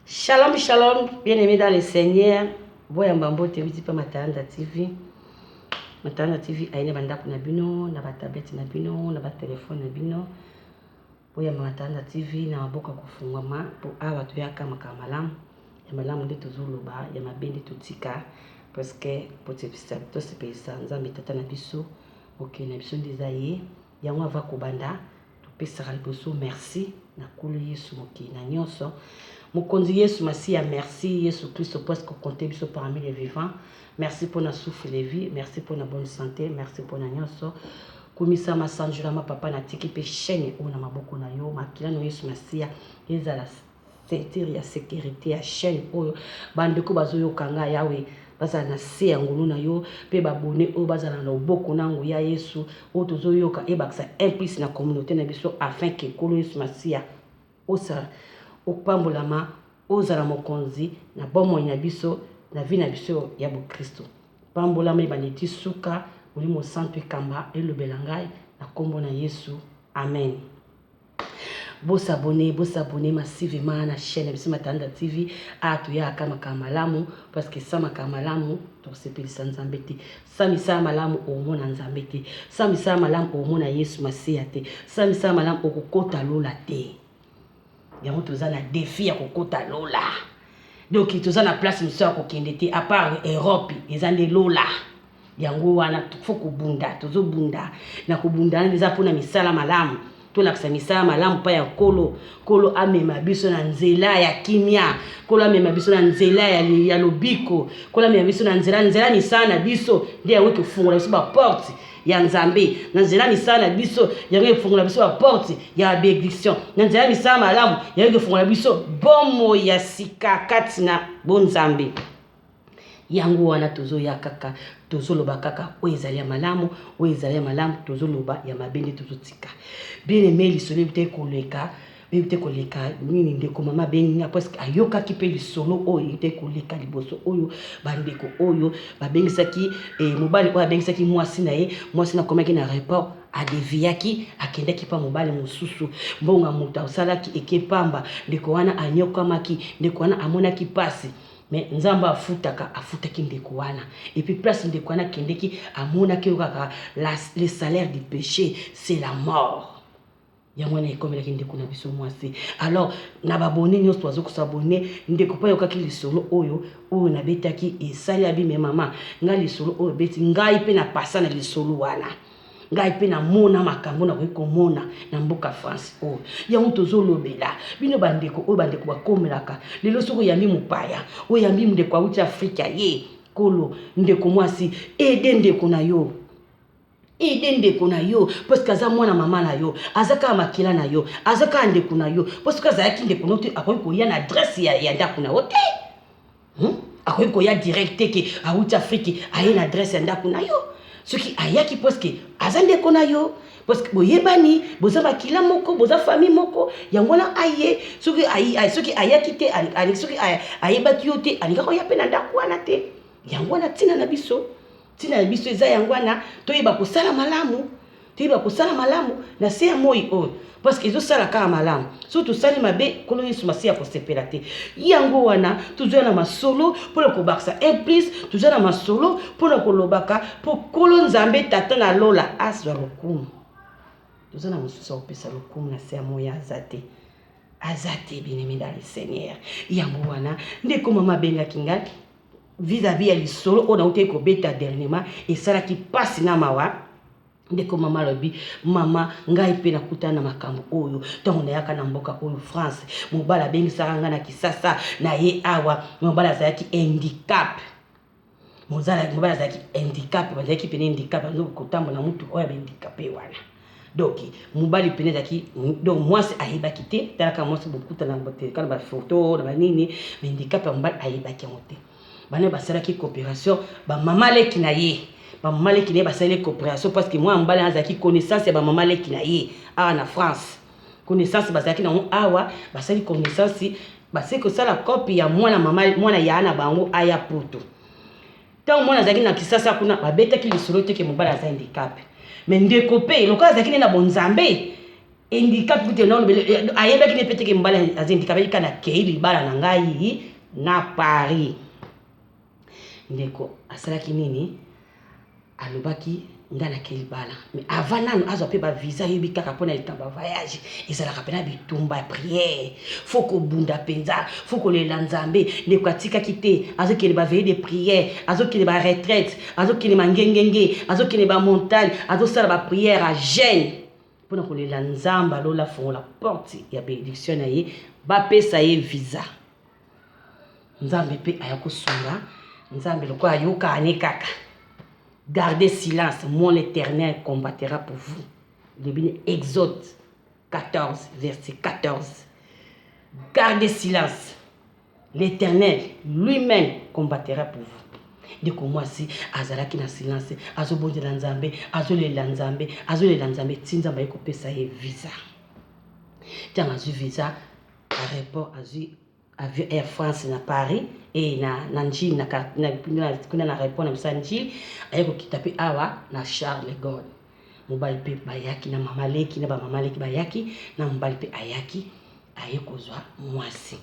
Shalom shalom bien aimé dans le Seigneur boyamba mbote ewiti mpe Matanda TV Matanda TV aye na bandako na bino na batablete na bino na batelefone na bino boyamba Matanda TV na maboko ya kofungwama mpo awa toyaka makambo malamu ya malamu nde tozoloba ya mabe nde totika parceke tosepelisa Nzambe tata na biso mokili na biso nde eza ye yango ava kobanda Topesaka liboso merci na nkolo yesu mokili na nionso mokonzi yesu masiya merci yesu klisto parce que compte biso parmi les vivants merci pona souffle de vie merci pona bonne sante merci pona nionso kumisama sanjolama papa na tiki pe chaine oyo na maboko na yo makila na yesu masiya ezala ceinture ya securite ya chaine oyo bandeko bazoyoka nga yawe bazala na se ya ngolu na yo pe babone oyo bazala na loboko na nguya yesu oyo tozoyoka ebakisa implis na communaute na biso afin ke kolo yesu masiya osala opambolama ozala mokonzi na bomoi na biso na vi na biso ya bokristo pambolama ebandi ti suka molimo santu ekamba elobela ngai na kombo na yesu amen Bo s'abonner, bo s'abonner massivement na chaine na biso Matanda TV. Awa toyaka kaka makambo ya malamu parce que sans makambo ya malamu tokosepelisa Nzambe te. Sans misala ya malamu okomona Nzambe te. Sans misala ya malamu okomona Yesu Masiya te. Sans misala ya malamu okokota lola te. Yango toza na defi ya kokota lola. donc toza na place mosusu ya kokende te apart europe eza nde lola yango wana fo kobunda tozobunda na kobunda wana eza mpona misala malamu tolakisa misala malamu mpa ya nkolo nkolo amema biso na nzela ya kimia nkolo amema biso na nzela ya, ya lobiko nkolo amema biso na nzela nzela misala na biso nde yango ekofungola biso baporte ya nzambe na nzela ya misala na biso yango efungola biso baporte ya benediction na nzela ya misala malamu yango ekofungola biso bomoi ya sika kati na bonzambe yango wana tozoya kaka tozoloba kaka oyo ezali ya malamu oyo ezali ya malamu tozoloba ya mabe nde tozotika bien aime lisolo ebitaki koleka Nayebi te koleka nini ndeko mama abengi nga parce que ayokaki mpe lisolo oyo ete koleka liboso oyo bandeko oyo babengisaki eh, mobali oyo abengisaki mwasi na ye mwasi na akomaki na report adeviyaki akendaki mpa mobali mosusu mbongo ya moto asalaki eke mpamba ndeko wana anyokwamaki ndeko wana amonaki mpasi mais nzambe afutaka afutaki ndeko wana epuis place ndeko wana akendeki amonaki yo kaka le salaire du péché c'est la mort Yango wana ekomelaki ndeko na biso mwasi. Alors na ba abonne nionso bazo ko s'abonner, ndeko pe ayokaki lisolo oyo oyo nabetaki esali abi mais mama ngai lisolo oyo obeti ngai pe na pasa na lisolo wana. Ngai pe na mona makambo nakoki komona na mboka France oyo. Yango tozo lobela bino ba ndeko oyo ba ndeko bakomelaka lelo soki oyambi mopaya, oyambi ndeko awuti Afrique aye kolo ndeko mwasi aide ndeko na yo. Aide ndeko na yo parce que aza mwana mama na yo, aza kaka makila na yo, aza kaka ndeko na yo. Mpo soki azalaki ndeko na yo te, akoki koya na adresse ya, ya ndako na yo te hmm? akoki koya direct te ke awuti Afrique aye na adresse ya ndako na yo. Soki ayaki parce que aza ndeko na yo parce que boyebani boza makila moko boza famille moko yango wana aye soki soki ayaki te soki ayebaki yo te alingaki oya mpe na ndako wana te yango wana ntina na biso Ntina na biso eza yango wana, toyeba kosala malamu, toyeba kosala malamu na se ya moi oyo, parce que ezosala kaka malamu. Soki tosali mabe, Nkolo Yesu Masiya akosepela te. Yango wana tozwa na masolo mpo na kobakisa un plus, tozwa na masolo mpo na kolobaka mpo Nkolo Nzambe Tata na Lola azwa lokumu. Tozwa na mosusu akopesa lokumu na se ya moi aza te aza te bien-aimé dans le Seigneur. Yango wana ndeko mama abengaki ngai vis à vis ya lisolo oyo nautaki kobeta dernièrement esalaki mpasi na mawa ndeko mama alobi mama ngai mpe nakutana na makambo oyo ntango nayaka na mboka oyo france mobali abengisaka ngai na kisasa na ye awa mobali azalaki handicap mobali azalaki handicap bazalaki mpena handicap azo kotambola motuka oyo ya bahandikape wana donc mobali pene ezalaki donc mwasi ayebaki te tala kaka mwasi bokutana kaka na bafoto na banini handicap ya mobali ayebaki yango te bana basalaki coopération bamama leki na ye bamama leki na ye basaleli coopération parce que mwana mobali azalaki connaissance ya bamama leki na ye awa na france connaissance bazalaki nango awa basali connaissance basali kosala cope ya mwana mama mwana ya na bango aya poto Tango mwana azalaki na Kisasa kuna babetaki lisolo te ke mobali aza handicap. Mais ndeko pe lokola azalaki ne na bonzambe handicap kutu na lobele eh, ayebaki ne pete ke mobali aza handicap ika na kei libala na ngai na Paris. Ndeko asalaki nini? Alobaki nga nake libala mais avant nanu azwa mpe bavisa yebi kaka mpo na likambo ya voyage ezalaka mpena bitumba ya priere fo kobunda mpenza fo kolela nzambe ndeko atikaki te azokende baveille de priere azokende baretraite azokende mangengenge azokende bamontagne azosala bapriere ya jeune mpo na kolela nzambe alola fongola porte ya benediction na ye bapesa ye visa nzambe pe aya kosunga nzambe lokola ayokaa ne kaka gardez silence moi l'éternel combattera pour vous lobi na exode 14 verset 14 gardez silence l'éternel lui-même combattera pour vous ndeko mwasi azalaki na silence azobondela nzambe azolela nzambe azolela nzambe ti nzambe aye kopesa ye visa ntango azwi visa Aeroport azui avion air France na Paris et na na Ndjili na kuna na aeroport na biso ya Ndjili aye kokita pe awa na Charles de Gaulle mobali pe bayaki na mama leki na ba mama leki bayaki na mobali pe ayaki aye kozwa mwasi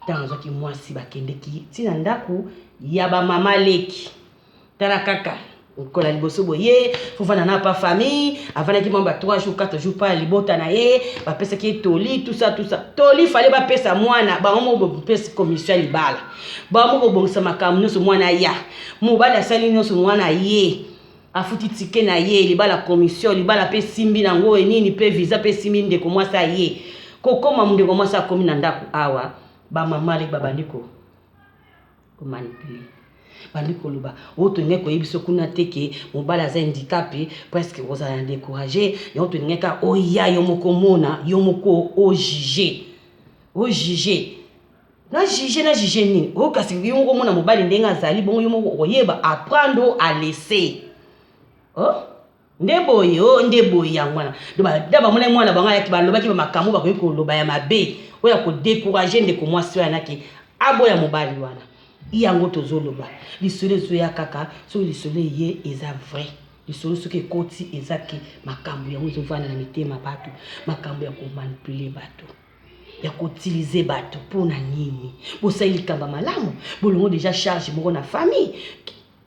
ntango azwaki mwasi bakendeki ti na ndako ya ba mama leki Tala kaka mokolo ya liboso boye fofana na pa famille avandaki mwa ba 3 jours 4 jours pa libota na ye bapesaki ye toli tusa tusa toli fale bapesa mwana bango moko bopesi commission ya libala bango moko bobongisa makambo nyonso mwana aya mobali asali nyonso mwana ye afuti tike na ye libala commission libala mpe esimbi na yango enini mpe visa mpe esimbi ndeko mwasi aye kokoma ndeko mwasi akomi na ndako awa bamama leki babandi ko ko manipuler bandi koloba oyo tolingai koyebisa kuna te ke mobali aza handikape presque kozala na décourage yango tolingai kaka oya yo moko mona yo moko ojuge ojuge na juge na juge nini oyo kasi yo moko omona mobali ndenge azali bongo yo moko okoyeba apprendre o alaisse oh? Nde boye oh nde boye yango wana donc nde bamonaki mwana bango ayaki balobaki ba makambo bakoki koloba ya mabe oyo ya kodekourage ndeko mwasi wana ke aboya mobali wana yango tozoloba lisolo ezoya kaka soki lisolo eye eza vrai lisolo soki ekoti eza ke makambo yango ezovanda na mitema bato makambo ya komanipule bato ya koutilize bato mpo na nini bosali likambo malamu bolongo deja charge moko na famille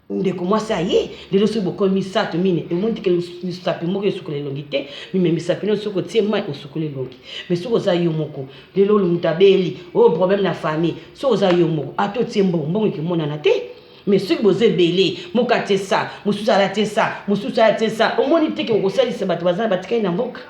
Ndeko mwasi aye lelo soki bokomi misato mine omoni teke misapi moko esukola elongi te mime misapi nio soki otie mai osukoli elongi me soki oza yo moko lelo olo moto abeli oyo oh, problème na famille soki oza yo moko ata otie mbongo mbongo ekimonana te me soki boza ebele moko atie sa mosusu alatie sa mosusu alatie sa omoni teke okosalisa bato baza batikali na mboka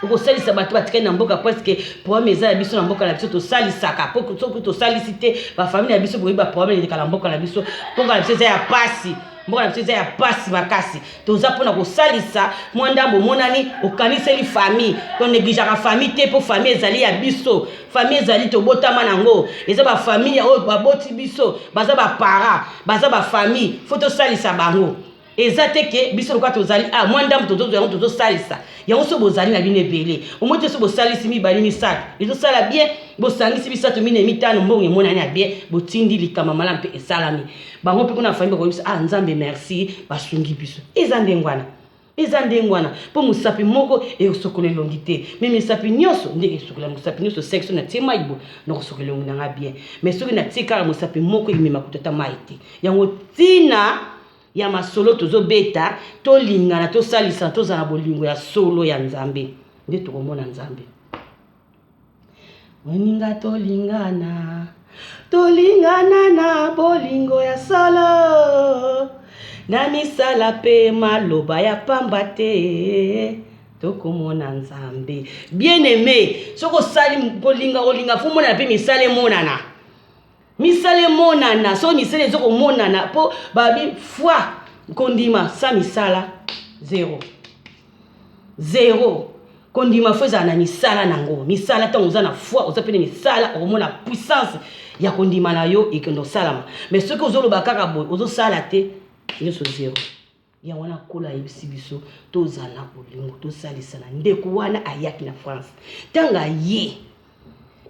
okosalisa bato batikali na mboka preske problème eza ya biso na mboka na biso tosalisaka po soki tosalisi te bafamile ya biso boyebi baproblème eleka na mboka na biso mboka na biso eza ya pasi mboka na biso eza ya pasi makasi toza mpona kosalisa mwa ndambo omonani okaniseli famille tonegligeaka famille te mpo famille ezali ya biso famille ezali tobotama nango eza bafamille oyo baboti biso baza bapara baza bafamille fo tosalisa bango eza te ke biso lokola tozali a ah, mwa ndambo tozozwa yango tozosalisa yango so bozali na bino ebele omoi te so bosalisi mibale misato ezosala bien bosangisi misato minei mitano mbongo emonani ya bien botindi likama malamu mpe esalami bango mpe kuna fami bakoyebisa a ah, nzambe merci basungi biso eza ndenge wana eza ndenge wana mpo mosapi moko ekosokola elongi te me misapi nyonso ndenge esokola mosapi nyonso seki so natie mai bo nakosokola elongi na ngai bien me soki natie kaka mosapi moko emema kutu ata mai te yango ntina ya masolo tozo beta tolingana tosalisa tozala na bolingo ya solo ya nzambe nde tokomona nzambe moninga tolingana tolingana na bolingo ya solo na misala mpe maloba ya pamba te tokomona nzambe bien aime soki osali kolinga kolinga fo monana mpe misala emonana misala emonana soki misala eza komonana mpo babi foi kondima sa misala zero zero kondima fo ezala na misala na yango misala ntango oza na foi oza mpe na misala okomona puissance ya kondima na yo ekende osalama mais soki ozoloba kaka boye ozosala te nyonso zero Yango wana nkolo ayebisi biso tozala na bolingo tosalisana ndeko wana ayaki na france ntango aye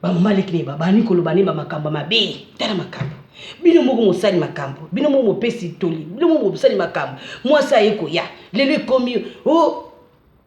bamaliki ne babandi koloba ne bamakambo mabe tala makambo bino moko mosali makambo bino moko mopesi toli bino moko mosali makambo mwasi aye koya lelo ekomi o oh,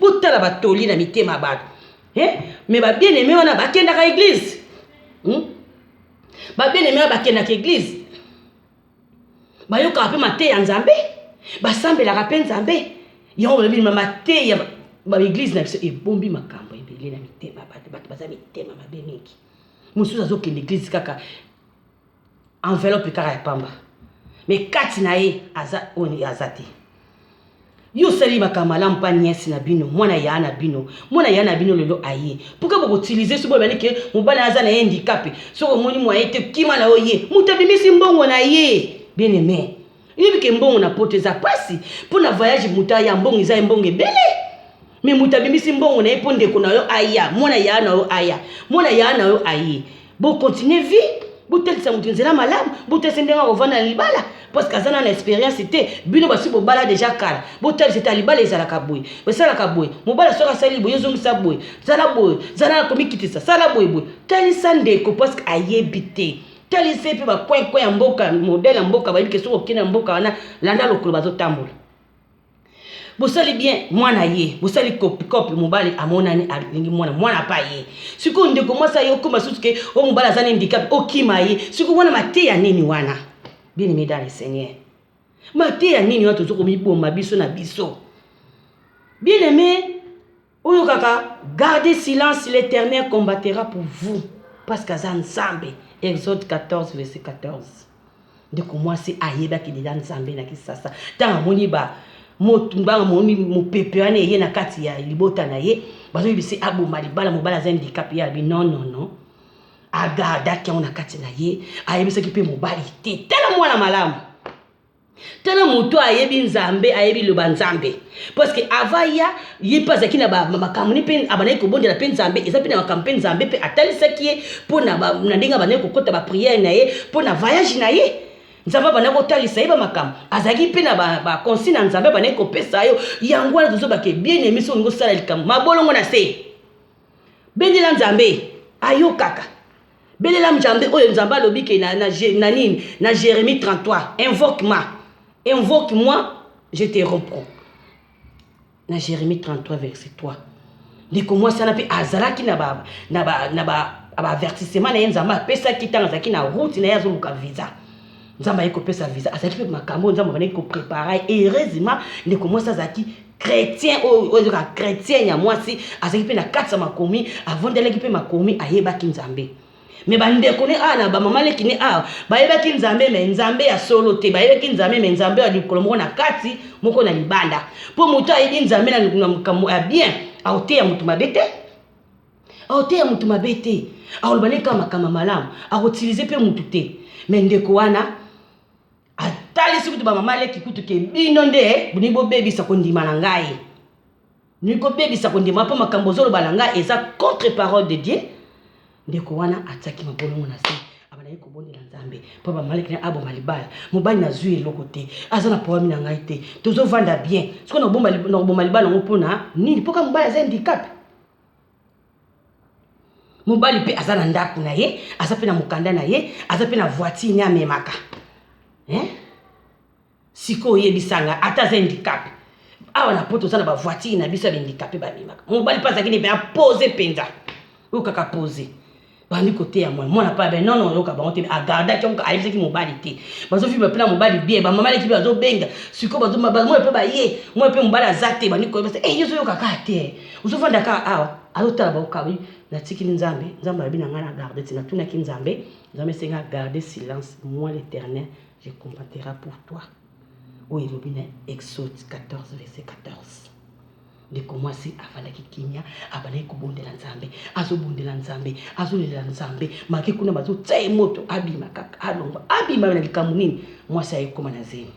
botala batoli na mitema ya bato eh? me babiene eme wana bakendaka eglize hmm? babiene eme wana bakendaka eglize bayokaka mpe mateya ya nzambe basambelaka mpe nzambe yango balobi ma mateya baeglize na biso ebombi makambo ebele na mitema bato bato baza mitema mabe mingi mosusu azokende eglize kaka enveloppe kaka ya pamba me kati na ye aza oyo aza te yo osali makambo malamu mpa niesi na bino mwana ya na bino mwana ya na bino lelo aye pourkui bokotilize soki boyebani ke mobali aza na ye ndikape soki omoni mwa ye te kima na yo ye moto abimisi mbongo na ye bien aime Oyebi ke mbongo na poto eza pasi mpo na voyage moto aya mbongo eza ye mbongo ebele me moto abimisi mbongo na ye mpo ndeko na yo aya mwana yaa na yo aya mwana yaa na yo aye bocontinue vie botalisa moto nzela malamu botalisa ndenge akovanda na libala parceke aza na na experience te bino basi bobala deja kala botalisa ete libala ezalaka boye esalaka boye mobala soki asali boye ezongisa boye zala boye zala na komikitisa sala boye boye talisa ndeko parceke ayebi te talisa ye mpe bacoin coin ya mboka modele ya mboka bayebi ke soki okende na mboka wana landa lokolo bazotambola bosali bien mwana ye bosali kopikope mobali amonani alingi mwana mwana apa ye sikoyo ndeko mwasi aye okoma susu ke o oh, mobali aza na indikape okima ye sikoyo wana mateya nini wana bini midale seigneur mateya nini wana tozo komiboma biso na biso bien aime Oyokaka garde silence l'eternel combattera pour vous parce que aza nzambe exode 14 verset 14 ndeko mwasi ayebaki deja nzambe na kisasa ntango amoni ba mbanga moni mopepe wana eye na kati ya libota na ye bazoyebisi aboma libala mobala aza handicap ye abi non non non agardaki yango na kati na ye ayebisaki mpe mobali te tala mwana malamu tala moto oyo ayebi nzambe ayebi loba nzambe parceke ava ya ye mpe azalaki na makambo ni mpe abandaki kobondela mpe nzambe eza mpe na makambo mpe nzambe mpe atalisaki ye mpo na ndenge abandaki kokɔta bapriere na ye mpo na vayage na ye nzambe abandaki kotalisa ye bamakambo azalaki mpe na baconsigne na nzambe abandaki kopesa yo yango wana tozobake bien emi soki olingi osala likambo mabolongo na se bendela nzambe ayokaka Belela Mzambe oyo Nzambe alobi ke na, na, na nini? Na Jeremie 33. Invoque ma. Invoque moi, je te reprends. Na Jeremie 33 verset 3. Ndeko mwasi wana mpe azalaki na ba, na ba, na ba, ba avertissement na ye Nzambe apesaki ntango azalaki na route na ye azoluka visa. nzambe aye kopesa visa azalaki mpe makambo oyo nzambe abandaki koprepara ye heureusement ndeko mwasi azalaki chrétien oyo oyo ezaka chrétien ya mwasi azalaki mpe na kati ya makomi avondelaki mpe makomi ayebaki nzambe me bandeko ne awa na bamama leki ne awa bayebaki nzambe me nzambe ya solo te bayebaki nzambe me nzambe ya likolo moko na kati moko na libanda mpo moto ayebi nzambe na makambo ya bien akoteya moto mabe te aoteya mutu mabe te akoloba ne kaka makambo malamu akotilize mpe mutu te me ndeko wana atalisi kutu bamama leki kutu ke bino nde bolingi bobebisa kondima na ngai bolingi kobebisa kondima mpo makambo ozoloba na ngai eza contre parole de dieu ndeko wana atiaki mabolongo na se abandaki kobondela nzambe mpo bamaleki na aboma libala mobali nazwi eloko te aza na problème na ngai te tozovanda bien sikoyo nakoboma libala yango mpo na nini mpo kaka mobali aza handicap mobali mpe aza na ndako na ye aza mpe na mokanda na ye aza mpe na voitire ne amemaka eh? sikoyo oyebisa nga ata aza indikape awa na poto oza na bavoitire na biso ya baindikape bamemaka mobali mpe azalaki ne mpe apose mpenza oyo kaka pose bandi koteya mwana mwana pa ben non non yoka bango te a garda ki oka ayebisaki mobali te bazo vivre pe na mobali bien ba mama leki bazo benga siko bazo ba mwana pe ba ye mwana pe mobali aza te bandi koyeba se eh yozo yoka ka te ozo vanda ka awa azo tala ba okabi na tiki ni nzambe nzambe alobi na ngai na garde ti na tuna ki nzambe nzambe senga garde silence moi l'éternel je combatera pour toi oyo elobi na exode 14 verset 14 Ndeko mwasi afandaki kimia, abandaki kobondela Nzambe. Azobondela Nzambe, azolelela Nzambe, make kuna bazotya ye moto, abima kaka, alongwa. Abima na likambo nini? Mwasi aye koma na zemi.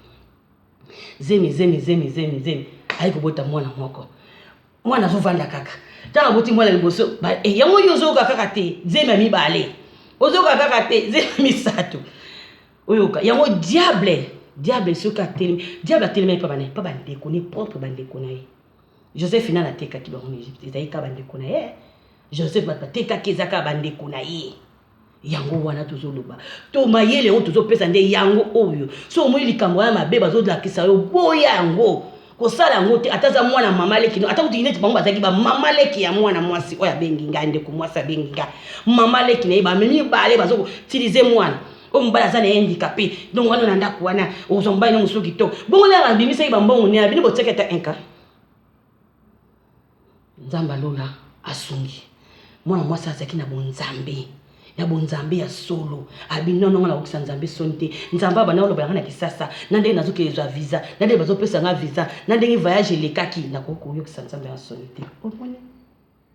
Zemi, zemi, zemi, zemi, zemi. Aye kobota mwana moko. Mwana azovanda kaka. Ntango aboti mwana liboso, eh, yango yo ozoyoka kaka te, zemi ya mibale. Ozoyoka kaka te, zemi ya misato. Oyoka yango diable diable soki atelemi diable atelemaki pa bana pa bandeko ne propre bandeko na ye joseph nani atekaki bango na egypte ezalaki kaka bandeko na ye joseph bato batekaki eza kaka bandeko na ye yango wana tozoloba to mayele oyo tozopesa nde yango oyo so omoni likambo wana mabe bazolakisa yo boya yango kosala yango te ata aza mwana mama leki no ata kutu neti bango bazalaki bamama leki ya mwana mwasi oyo abengi ngai ndeko mwasi abengi ngai mama leki na ye bamemi bale bazokotilize mwana oyo mobali aza na ye handicapé donc wana na ndako wana ozwa mobali na mosusu kitoko bongo na abimisaki bambongo ne abini botiaki ata inka nzambe alola asungi mwana mwasi azalaki na bonzambe na bonzambe ya solo abini nono nga nakokisa nzambe soni te nzambe abanda koloba yanga na kisasa na ndenge nazokende zwa visa na ndenge bazopesa nga visa na ndenge voyage elekaki nakoki koyokisa nzambe ya soni te omoni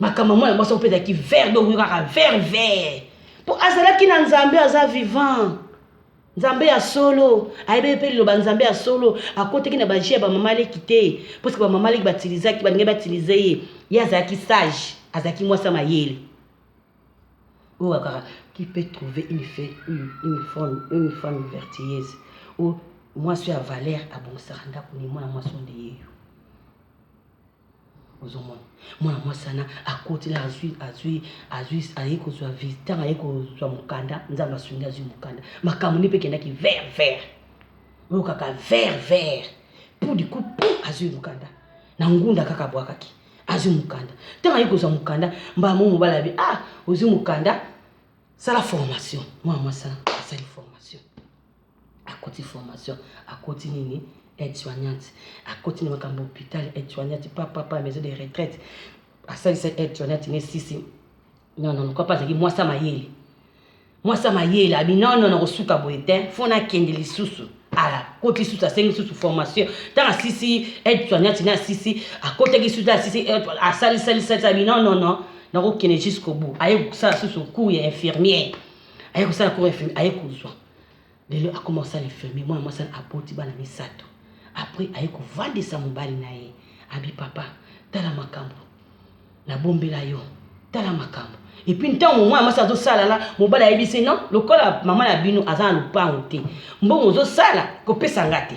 makambo ya mwana mwasi yango mpe ezalaki vert donc kaka vert vert mpo azalaki na nzambe aza vivant nzambe ya solo ayebi mpe liloba nzambe ya solo akotaki na baji ya bamama leki te mposke bamama leki batilizaki balingi batilize ye ye azalaki sage azalaki mwasi ya mayele oyo akaka qui peut trouver une, fait, une, une, femme, une femme vertueuse ou mwasi ya valeur abongisaka ndako ni mwana mwasi onde yeyo ozomona mwana mwasi wana akoti na azwi azwi azwi aye kozwa ntango aye kozwa mokanda nzambe asungi azwi mokanda makambo nde mpe ekendaki vert vert oyo kaka vert vert pu diku pu azwi mokanda na ngunda kaka abwakaki azwi mokanda ntango aye kozwa mokanda mbala mo mobali abi ah ozwi mokanda sala formation mwana mwasi wana asali formation akoti formation akoti nini aide soignante akoti na makambo hôpital aide soignante pa pa pa maison de retraite asalisa aide soignante ne sisi non non kwa pa azali mwasi mayele mwasi ya mayele abi nono nakosuka boye te fo nakende lisusu akoti lisusu asengi lisusu formation ntango asisi aide soignante ne asisi akotaki lisusu asisi asalisalisalisi abi nonono nakokende jusqu'au bout aye kosala lisusu cour ya infirmière aye kosala cour infirmière aye kozwa lelo akoma kosala infirmier mwana mwasi wana aboti bana misato après aye kovandisa mobali na ye abi papa tala makambo nabombela yo tala makambo epuis ntango mwana mwasi azosala na mobali ayebisi no lokola mama na bino aza na lopango te mbongo ozosala kopesa nga te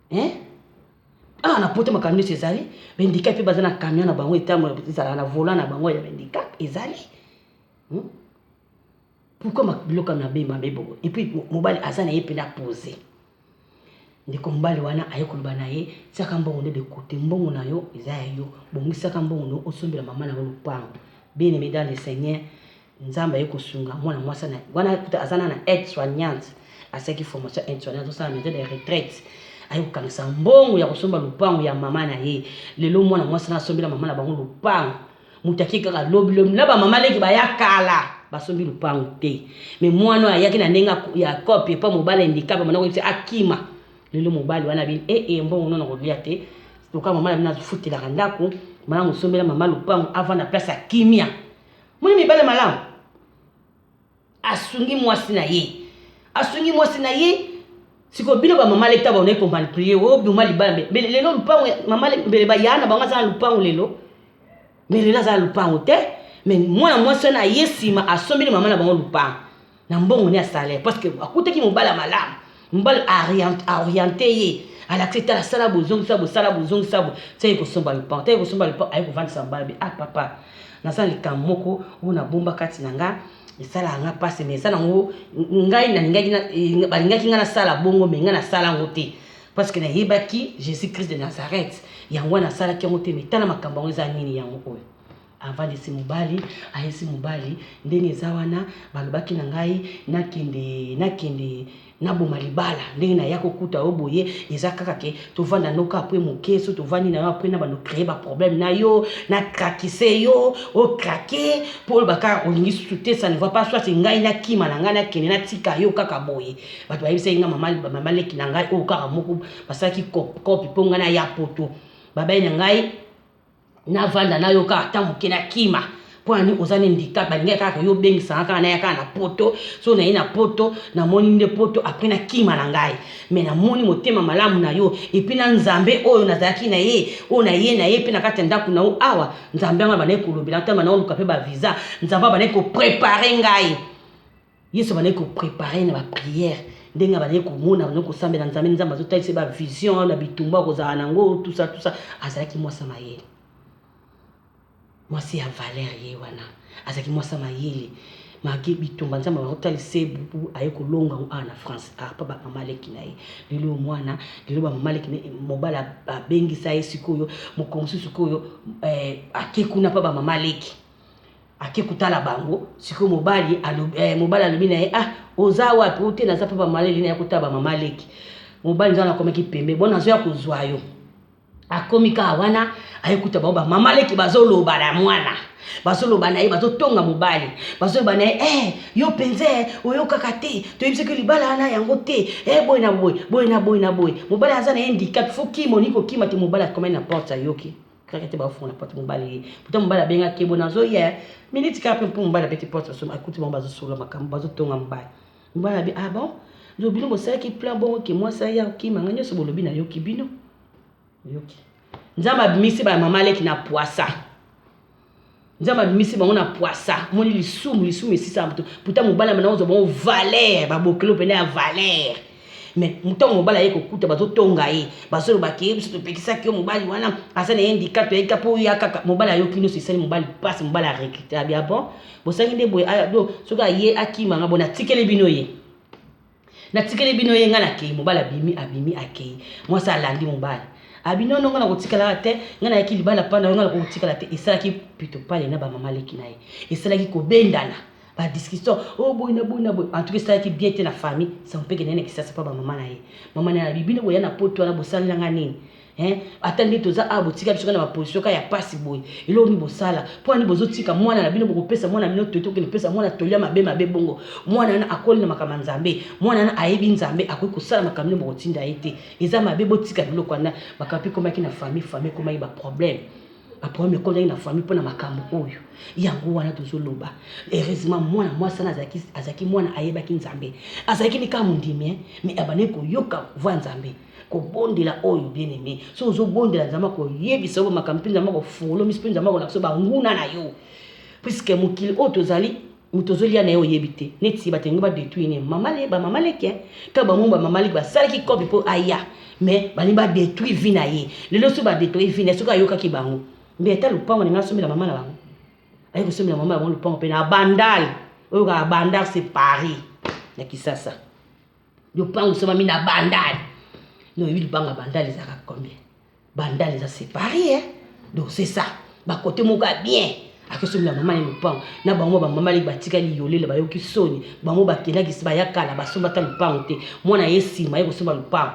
Hein? Awa na poto makambo nyonso ezali, bendika mpe baza na camion na bango etambola ezala na volant na bango ya bendika ezali. Hmm? Pourquoi ma biloko na be mabe bobo? Et puis mobali aza na ye mpe na poser. ndeko mobali wana aye koloba na ye tiaka mbongo nde de kote mbongo na yo eza ya yo bongisaka mbongo na yo osombela mama na yo lopango bien aimé dans le seigneur Nzambe aye kosunga mwana mwasi na wana kuta azana na aide soignante asaki formation aide soignante osala maison de retraite aye kokangisa mbongo ya kosomba lupango ya mama na ye lelo mwana mwasi na asombela mama na bango lupango moto ake kaka lobi lobi na bamama leki baya kala basombi lupango te me mwana oyo ayaki na ndenge ya cope epa mobali endikape mwana koyebisa akima lelo mobali wana bini ee eh, eh, mbongo nono kolia te lokola mama na bino afutelaka ndako mwana mosombela mama lupango avanda place ya kimia Moni mibale malamu. Asungi mwasi na ye. Asungi mwasi na ye. Siko bino ba mama leta ba ne ko manipuler o oh, bima libala mais lelo lupango mama mbele ba yana bango za lupango lelo. Mais lelo za lupango te. Mais mwana mwasi na ye sima asombeli mama na bango lupango. na mbongo ne ya salaire parce que akutaki mobali ya malamu mobali aoriente ye alakisi tala sala bozongisa bosala bozongisa bo seke kosomba lupang teke kosomba lupang aye kovandisa mobali be ah papa naza na likambo moko oyo nabomba kati na nga esalaka nga mpasi me eza nango ngai nalingaki eh, balingaki ngai nasala bongo me ngai nasala yango te parce que nayebaki jésus christ de nazareth yango wana asalaki yango te me tala makambo yango eza nini yango oyo Avalisi mobali, ayesi mobali, ndenge eza wana, balobaki na ngai nakende, nakende, naboma libala, ndenge naya kokuta yo boye, eza kaka ke tovanda n'o kaka apres moke, soki tovandi na yo apres nabanda o creer ba problèmes na yo, na craquisser yo, o craquer, po oloba kaka olingi susu te, ça ne va pas, soit ngai nakima na ngai nakende natika yo kaka boye, batu bayebisaki ngai mama, mama leki na ngai oyo kaka moko, basalaki cop, copy po ngai naya poto, babali na ngai. na vanda na yo kaka ata moke na kima mpo na nini oza na handicap balingai kaka koyo obengisanga kaka naya kaka na poto so naye na poto namoni nde poto apres na kima na ngai me namoni motema malamu na yo epuis na nzambe oyo nazalaki na ye oyo naye na ye mpe na kati ya ndako na yo awa nzambe yango abandaki kolobela ntango banakoluka mpe bavisa nzambe abandaki koprepare ngai Yesu abandaki ko preparer ye na ba prières ndenge abandaki komona abandaki kosambela Nzambe, Nzambe azotalisa ye ba visions na bitumba akozala na yango tout ça tout ça, azalaki mwasi ya mayele, mwasi ya valeur ye wana azalaki mwasi ya mayele malgré bitumba Nzambe abandaki kotalisa ye bubu aye kolonga yango awa na France arpa ba mama leki na ye lelo oyo mwana lelo ba mama leki na ye mobali abengisa ye sikoyo mokolo mosusu sikoyo eh, ake kuna mpa ba mama leki ake kotala bango sikoyo mobali alobi, eh, mobali alobi na ye ah oza wapi ote naza mpe bamaleli na ya kotala bamama leki mobali nzana akomaki pembe bona azoya kozwa yo akomi kaka wana ayekuta bango bamama leki bazoloba na mwana bazoloba na ye bazotonga mobali bazoloba na ye eh, yo mpenza eh, oyokaka te toyebi soki libala wana yango te eh, boye na boye boye na boye na boye mobali aza na ye ndikap fo kima olingi kokima te mobali akomani na porte ayoki Kaka te bafungola porte mobali ye. Pourtant mobali abenga kebo nazo ya minute kaka mpo mobali abeti porte so akuti bango bazo solo makambo bazo tonga mobali. Mobali abi ah bon donc bino bosalaki plan bongo ke mwasi aya okima nga nyonso bolobi nayoki bino. Oyoki. Nzambe abimisi ba mama leki na puasa. Nzambe abimisi bango na pwasa. Moni lisumu, lisumu esisa moto. Puta mobala mana ozo bango valeur, ba bokelo pena ya valeur. Mais mutango mobala ye kokuta bazo tonga ye, bazo loba ke biso topekisaki yo mobali wana aza na handicap ya ika po ya kaka mobala yo kino sisali mobali passe mobala recruter bien bon. Bosangi nde boye aya do soki aye akima nga bona tikeli bino ye. natikeli bino ye ngai nakei mobali abimi abimi akei mwasi alandi mobali abi ah, nono ngai nakotikalaka te ngai nayaki libala mpa na yo ngai nakokotikala te esalaki pito pale na bamama leki na ye esalaki kobendana badiscussion o oh, boye na boye na boye antuka esalaki bien te na famille sampeke naye na kisasa mpa bamama na ye mama na ye abi bino boya na poto wana bosalela ngai nini Hein? Ata nde toza awa botika biso na ba position ka ya pasi boye. Elo ni bosala. Mpo ani bozo tika mwana na bino boko pesa mwana na bino toto kende pesa mwana tolia mabe mabe bongo. Mwana wana akoli na makama Nzambe. Mwana wana ayebi Nzambe akoki kosala makambo nini bokotinda ye te. Eza mabe botika biloko wana. Makambo ekomaki na famille famille ekomaki ba problème. Ba problème ekomaki na famille mpo na makambo oyo. Yango wana tozo loba. Heureusement mwana mwasi wana azalaki azalaki mwana ayebaki Nzambe. Azalaki ni kaka mondimi hein mais abandaki koyoka voix Nzambe. kobondela oyo bien aime so ozobondela nzambe akoyebisa yo bamakambo mpe nzambe akofolomisi mpe nzambe akolakisa yo banguna na yo puiske mokili oyo tozali moto ozolia na ye oyebi te neti bato yango badetruire ne mamale bamama leke ntango bango bamama leke basalaki kope mpo aya mais balingi badetruire vi na ye lelo soki badetruire vi na ye soki ayokaki bango mbe ata lopango na ngai asombela mama na bango aye kosombela mama na bango lopango mpe na bandal oyoka bandal c'est paris na kisasa lopango esombami na bandale no oyebi lopango ya bandale ezalaka combien bandale eza séparé eh? donc c'est ça bakote moko ya bien akosomela mama ye lopango na bango bamama leki batikali yolela bayoki soni bango bakendaki bayakala basomba ata lopango te mwana ye nsima ye kosomba lopango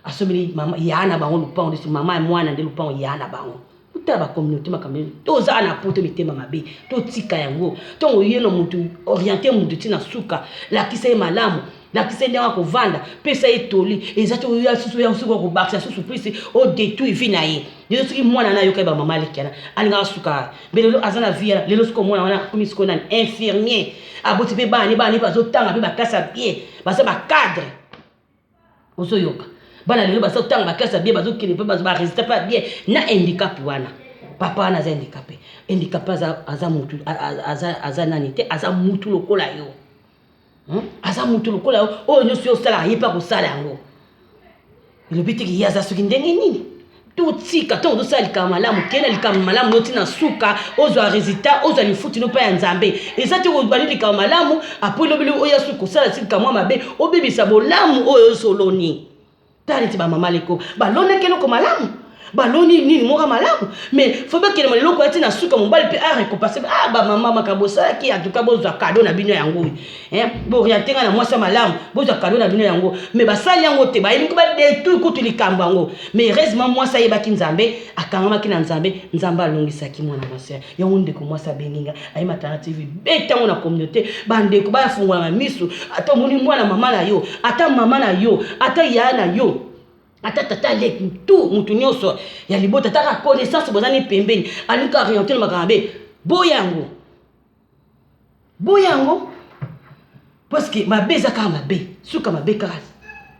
asombeli mama yaa na bango lupango nde mama ya mwana nde lupango yaa na bango totala bacommunauté makambo nini tozala na poto mitema mabe totika yango ntongo ye na motu oriente motu ntina suka lakisa ye malamu lakisa ye ndenge akovanda pesa ye toli eza te oya susu oya susu okobakisa susu plus odetruit vie na ye lelo soki mwana na ayoka ye bamama alekiana alingaka suka mbe lelo aza na vie wana lelo soki omwana wana akomi sikoyo nani infirmier aboti mpe bana ne bana ne bazotanga mpe baklasi ya bie baza bacadre ozoyoka bana lelo bazotanga baklase ya bie bazokende mpe bazo baresita mpe ya bie na handicap wana papa wana aza handicapé handicapé aza, aza mutu aza, aza nani te aza mutu lokola yo hmm? aza mutu lokola yo oyo nyonso yo osalaka ye mpe akosala yango elobi teke ye aza soki ndenge nini totika ntango tozosala likambo malamu kenda likambo malamu noti na suka ozwa resultat ozwa lifuti no mpa ya nzambe eza te kobandi likambo malamu apo elobeli oya suki kosala ti likambo ya mabe obebisa bolamu oyo ozoloni tala neti bamama leko balonaki eloko malamu baloni nini moka malamu me fo bakende maleloko ya ti na suka mobali mpe arekopase ah, bamama makambo osalaki atuka bozwa kado na bino yango oyo Hein? Boriente nga na mwasi ya malamu, bozwa kado na bino yango. Mais basali yango te, bayebi ko ba detruire kutu likambo yango. Mais heureusement mwasi ayebaki Nzambe, akangamaki na Nzambe, Nzambe alongisaki mwana mwasi. Yango ndeko mwasi abengi nga, aye matana TV, beta yango na communauté, ba ndeko ba fungola na misu, ata omoni mwana mama na yo, ata mama na yo, ata yaya na yo, ata tata aleki tout mutu nyonso ya libota, ata ka connaissance bozani pembeni, alingi ko orienter na makambo mabe. Boya yango. boya yango parce que mabe eza kaka mabe suka mabe kaka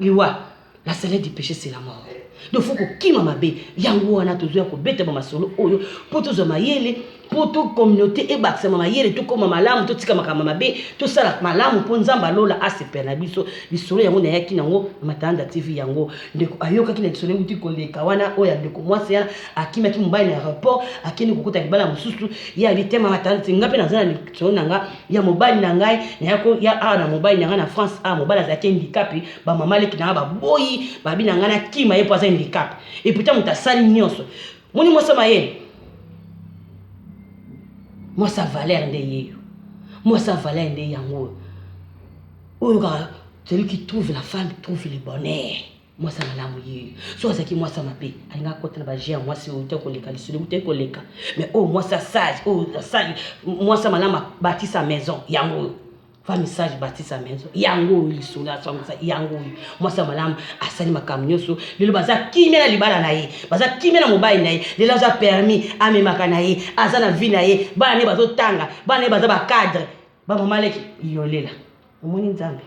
liwa la salaire du péché c'est la mort donc faut kokima mabe yango wana tozoya kobeta bamasolo oyo mpo tozwa mayele mpo to communauté ebakisama mayele tokóma malamu totika makambo mabe tosala malamu mpo nzambe alola asepela na biso lisolo yango nayaki nango na matanda tv yango ndeko ayokaki na lisolo euti koleka wana oyo ya ndeko mwasi yana akimaki mobali na aéroport akende kokota libala mosusu ye abi te mama tante nga mpe naza na lisolo na nga ya mobali na ngai naya koya awa na mobali na ngai na france awa mobali azalaki handikape bamama leki na ngai baboyi babi na ngai nakima ye mpo aza handikape eputa moto asali nyonso moni mwasi ya mayele mwasi ya valere nde yeyo mwasi ya valere nde yango oyo oyo kaka celui qui trouve la femme trouve le bonheur mwasi ya malamu ye soki azalaki mwasi ya mabe alingaki akota na baje ya mwasi oyo te koleka lisolo te koleka mais oyo mwasi ya sage oyo asali mwasi ya malamu abatisa maison yango oyo femme sage batisa maison yango oyo lisolo asangisa yango oyo mwasi ya malamu asali makambo nyonso lelo baza kimia na libala na ye baza kimia na mobali na ye lelo aza permis amemaka na ye aza na vie na ye bana ne bazotanga bana ne baza bacadre Ba mama leki yolela. Omoni nzambe.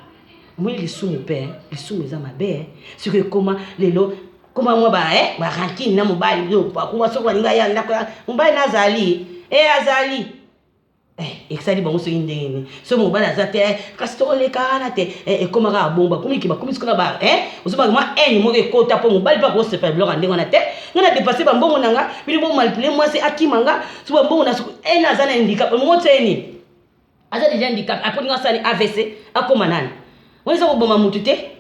Omoni lisumu pe, eh. lisumu eza mabe. Eh. Siko ekoma lelo koma mwa ba eh ba rancune na mobali yo pa kuma soko alinga ya ndako ya mobali na azali. Eh azali. Eh eksali bango soki ndenge ni. So mobali aza te eh, kasi to leka na te. Eh ekoma ka bomba kumi ki ba kumi siko na ba eh ozoba mwa haine moko ekota po mobali pa ko sepela biloko ndenge na te. Ngana dépasser ba mbongo na nga, bino bo manipuler mwasi akima nga, so ba mbongo na soko eh na azana handicap, motse ni. aza deja handicap apres ndenge asali avc akoma nani wana eza koboma motu te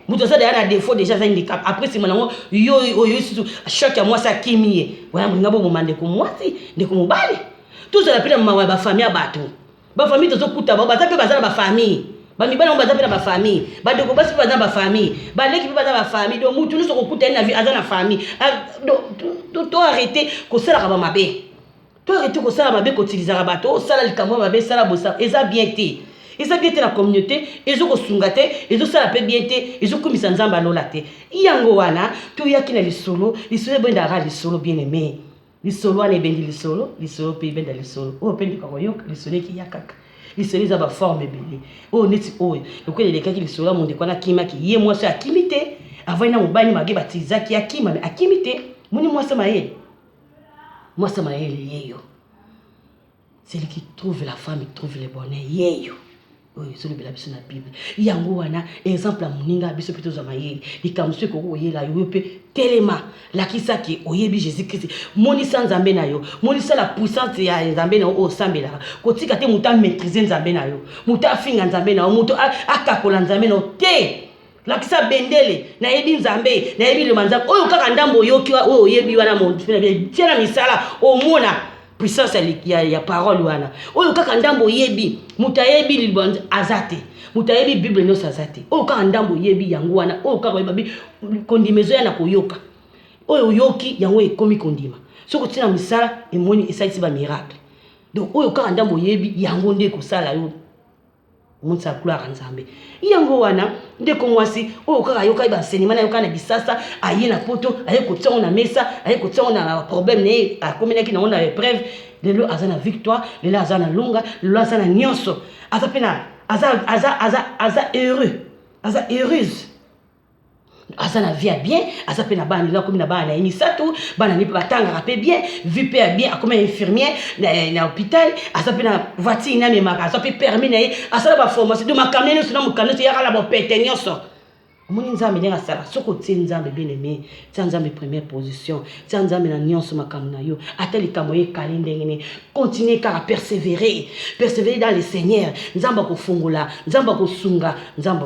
moto aza deja na defaut deja aza handicap apres nsima nango yo oyo lisusu choc ya mwasi akimi ye wana bolinga boboma ndeko mwasi ndeko mobali tozala mpe na mawa ya bafamille ya bato bafamille tozokuta bao baza mpe baza na bafamille bamibali yango baza mpe na bafamille bandeko basi mpe baza na bafamille baleki mpe baza na bafamille donc motu nyonso kokuta ye na vie aza na famille ah, to arrete kosalaka bamabe To ete kosala mabe kotilizaka bato, oh sala likambo ya mabe, sala boye, sala eza bien te. Eza bien te na communauté, ezo kosunga te, ezo sala pe bien te, ezo kumisa Nzambe ya lola te. Yango wana toyaki na lisolo, lisolo ebendaka lisolo bien aimé. Lisolo wana ebendi lisolo, lisolo pe ebenda lisolo. Oyo oh, pe ndeko koyoka lisolo ekiya kaka. Lisolo eza ba forme ebele. Oyo oh, neti oyo, lokola elekaki lisolo ya mondeko wana akimaki, ye mwasi akimi te, avandi na mobali mage batizaki akima, akimi te. Moni mwasi maye. Mwasi ya mayele yeyo. Celui qui trouve la femme trouve le bonheur yeyo. Oyo ezolobela biso na Bible. Yango wana exemple ya moninga biso mpe tozwa mayele. Likambo mosusu ekoki koyela yo yo mpe telema lakisa ke oyebi Jésus Christ. Monisa Nzambe na yo. Monisa la puissance ya Nzambe na yo oyo osambelaka. Kotika te moto a maîtriser Nzambe na yo. Moto afinga Nzambe na yo. Moto akakola Nzambe na yo te. lakisa bendele nayebi nzambe nayebi loma nzambe oyo kaka ndambo oyoki oyo oyebi wana tia na misala omona puissance ya, ya parole wana oyo kaka ndambo oyebi moto ayebi liloba aza te moto ayebi bible nyonso aza te oyo kaka ndambo oyebi yango wana oyo kaka oyebabi kondima ezoya na koyoka oyo oyoki yango ekomi kondima soki otia na misala emoni esalisi bamiracle donc oyo kaka ndambo oyebi yango nde ekosala yo Omonisa ya gloire ya Nzambe. Yango wana ndeko mwasi oyo kaka ayokaki bansenyema na yoka na bisasa aye na poto aye kotia yango na mesa aye kotia yango na problème na ye akomelaki nango na épreuve lelo aza na victoire lelo aza na longa lelo aza na nyonso aza mpe na aza, aza, aza, aza heureux aza heureuse aza na vie ya bien aza mpe na bana lelo akomi na bana na ye misato bana ne mpe batangaka mpe bien vie mpe ya bien akomi infirmier na, na hôpital aza mpe na voiture ne amemaka aza mpe permis na ye asala baformation do makamia nyonso na mokano nyonso eyaka na bopete nyonso omoni nzambe ndenge asala soki otie nzambe bien aime tia nzambe première position tia nzambe na nyonso makambo na yo ata likambo ekali ndenge nini continue kaka persévérer persévérer dans le seigneur nzambe akofungola nzambe akosunga nzambe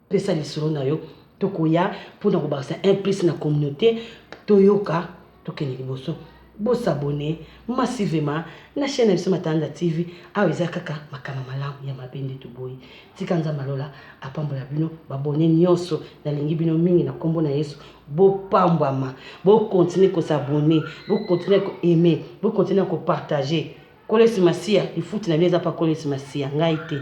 Pesa lisolo na yo. Tokoya mpo na kobakisa un plus na communaute. Toyoka, tokende liboso. Bo s'abonner massivement na chaine na biso Matalanda TV. Awa eza kaka makambo ya malamu, ya mabe nde toboyi. Tika Nzambe ya lola apambola bino b'abonnes nionso. Nalingi bino mingi na kombo na Yesu. Bopambwama. Bo continuer ko s'abonner, bo continuer ko aimer, bo continuer ko partager. Kolesi Masiya, lifuti na bino eza pa Kolesi Masiya, ngai te.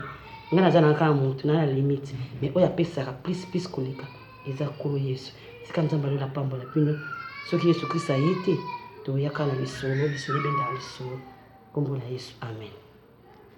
Ngai naza na kaka moto na na limite, mais oyo apesaka plus plus koleka eza Nkolo Yesu. Tika Nzambe alola pambola bino. Soki Yesu Kristo aye te, toyaka na lisolo, lisolo ebendaka lisolo. Kombo na Yesu, amen.